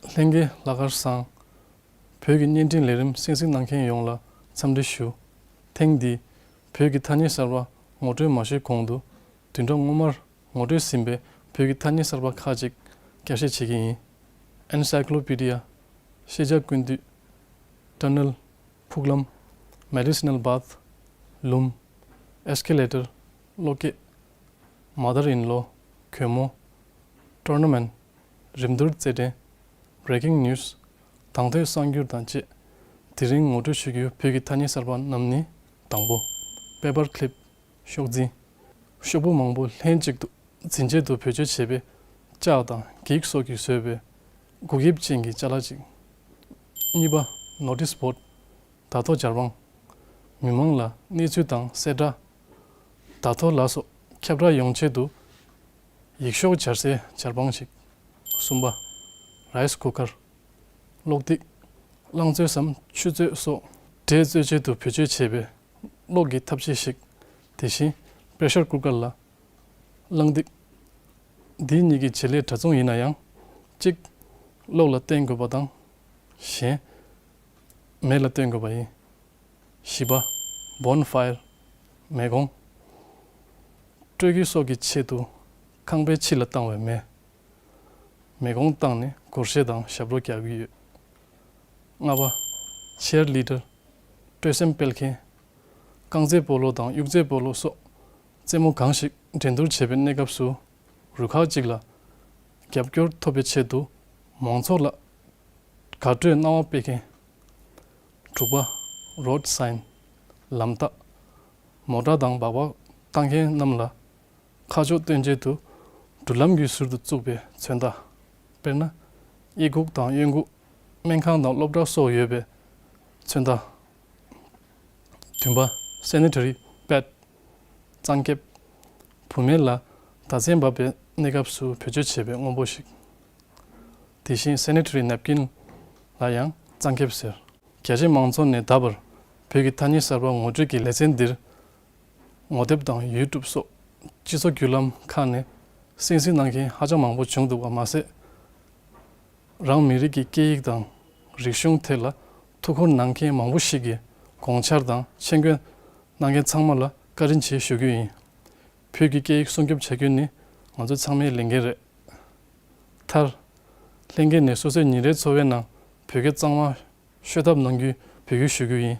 ལྷན་རྒྱས་ལྷག་དཀར་བཟང། བོད་ཀྱི་བརྙན་འཕྲིན་ལས་རིམ་གསན་གཟིགས་གནང་མཁན་ཡོངས་ལ་འཚམས་འདྲི་ཞུ། ཐེངས་འདིས་བོད་ཀྱི་ཐ་སྙད་གསར་པ་ངོ་སྤྲོད་མ་ཞུས་གོང་དུ་དུས་འགྲོ་སྔོན་མར་ངོ་སྤྲོད་ཟིན་པའི་བོད་ཀྱི་ཐ་སྙད་གསར་པ་ཁག་ཅིག་བསྐྱར་བཤད་བྱེད་ཀྱི་ཡིན། Encyclopedia། ཤེས་བྱ་ཀུན་འདུས། Tunnel། ཕུག་ལམ། Medicinal Bath། ལུམས། Escalator། གློག་སྐས། མ་དར་ཨིན་ལོ་གྱོས་མོ། Tournament། རིམ་བསྡུར་རྩེད་འགྲན། Breaking News། དང་ཐོས་བསམ་བསྒྱུར་དང་བཅས་དེ་རིང་ངོ་སྤྲོད་ཞུ་རྒྱུ་བོད་ཀྱི་ཐ་སྙད་གསར་པ་རྣམས་ནི་དང་པོ། Paper Clip། ཤོག་འཛིན། ཤོག་བུ་མང་པོ་ལྷན་ཅིག་ཏུ་འཛིན་ཆེད་དུ་བེད་སྤྱོད་བྱེད་པའི་ལྕགས་དང་འགྱིག་སོགས་ཀྱིས་བཟོས་པའི་སྒུག་དབྱིབས་ཅན་གྱི་ལྕགས་ལ་ཅིག། གཉིས་པ། Notice Board། དར་ཐོག་སྦྱར་དཔང། མི་མང་ལ་གནས་ཚུལ་དང་གསལ་བསྒྲགས་བདག་ཐོ་ལ་སོགས་ཁྱབ་བསྒྲགས་ཡོང་ཆེད་དུ། ཡིག་ཤོག་སྦྱར་སའི་སྦྱར་པང་ཞིག། སུམ་པ། Rice Cooker། གློག་རྡིག། རླངས་བཙོས་སམ་ཆུ་བཙོས་སོགས་སྒྲས་བཙོས་བྱེད་དུ་བེད་སྤྱོད་བྱེད་པའི་གློག་གི་ཐབ་ཆས་ཤིག། དེ་བཞིན Pressure Cooker ལ། རླངས་རྡིག། འདི་གཉིས་ཀྱི་བྱེད་ལས་འདྲ་མཚུངས་ཡིན་ན་ཡང། གཅིག། གློག་ལ་བརྟེན་དགོས་པ་དང། གཞན། མེ་ལ་བརྟེན་དགོས་པ་ཡིན། བཞི་པ། Bone File། མེ་གོང། སྤྲོད་རྒྱུ་སོགས་ཀྱི་ཆེད་དུ་ཁང་པའི་ཕྱི་ལ་བཏང་བའི་མེ། མེ་གོང་བཏང་ནས་གུར་ཞལ་དང་ཞབས་ལོ་རྒྱག་གི་ཡོད། ལྔ་པ། Chair Leader། སྤྲོད་སེམས་སྤེལ་མཁན། རྐང་རྩེད་སྤོ་ལོ་དང་དབྱུག་རྩེད་སྤོ་ལོ་སོགས་རྩེད་མོ་གང་ཞིག་འགྲན་བསྡུར་བྱེད་པའི་གནས་སྐབས་སུ་རུ་ཁག་ཅིག་ལ་རྒྱབ་སྐྱོར་ཐོབ་པའི་ཆེད་དུ་མང་ཚོགས་ལ་དགའ་སྤྲོའི་སྣང་བ་སྤེལ་མཁན། དྲུག་པ། Road Sign། ལམ་རྟགས། མོ་བཀྲ་དང་སྦག་སྦག་ལྟ་མཁན་རྣམས་ལ། ཁ་ཕྱོགས་སྟོན་བྱེད་དུ་འགྲུལ་ལམ་བརྒྱུད་ཟུར་དུ་བཙུགས་པའི་མཚོན་རྟགས། དཔེར་ན། དབྱེ་འགུག་དང་གཡོན་འགུག། སྨན་ཁང་དང་སློབ་གྲྭ་སོགས་ཡོད་པའི་མཚོན་རྟགས། བདུན་པ། Sanitary Pad། གཙང་ཁེབས། བུད་མེད་ལ་ཟླ་མཚན་འབབ་པའི་གནས་སྐབས་སུ་བེད་སྤྱོད་བྱེད་པའི་དངོས་པོ་ཞིག། དེ་བཞིན Sanitary Napkin། ལ་ཡང་གཙང་ཁེབས་ཟེར། རྒྱ་ཆེ་མང་ཚོགས་ནས་ད་བར་བོད་ཀྱི་ཐ་སྙད་གསར་པ་ངོ་སྤྲོད་ཀྱི་ལེ་ཚན་འདིར། ངོ་དེབ་དང YouTube སོགས་སྤྱི་ཚོགས་བརྒྱུད་ལམ་ཁག་ནས་གསན་གཟིགས་གནང་མཁན་ཧ་ཅང་མང་པོ་བྱུང་འདུག་པ་མ་ཟད། རང་མི་རིགས་ཀྱི་སྐད་ཡིག་དང་རིག་གཞུང་ཐད་ལ་ཐུགས་ཁུར་གནང་མཁན་མང་པོ་ཞིག་གིས་དགོངས་འཆར་དང་མཆན་བཀོད་གནང་མཁན་ཚང་མ་ལ་བཀའ་དྲིན་ཆེ་ཞུ་རྒྱུ་ཡིན། བོད་ཀྱི་སྐད་ཡིག་སྲུང་སྐྱོབ་བྱ་རྒྱུ་ནི་ང་ཚོ་ཚང་མའི་ལས་འགན་རེད། མཐར། ལྷན་རྒྱས་ནས་སོ་སོའི་ཉིན་རེའི་འཚོ་བའི་ནང་བོད་སྐད་གཙང་མ་ཤོད་ཐབས་གནང་རྒྱུའི་འབོད་སྐུལ་ཞུ་རྒྱུ་ཡིན།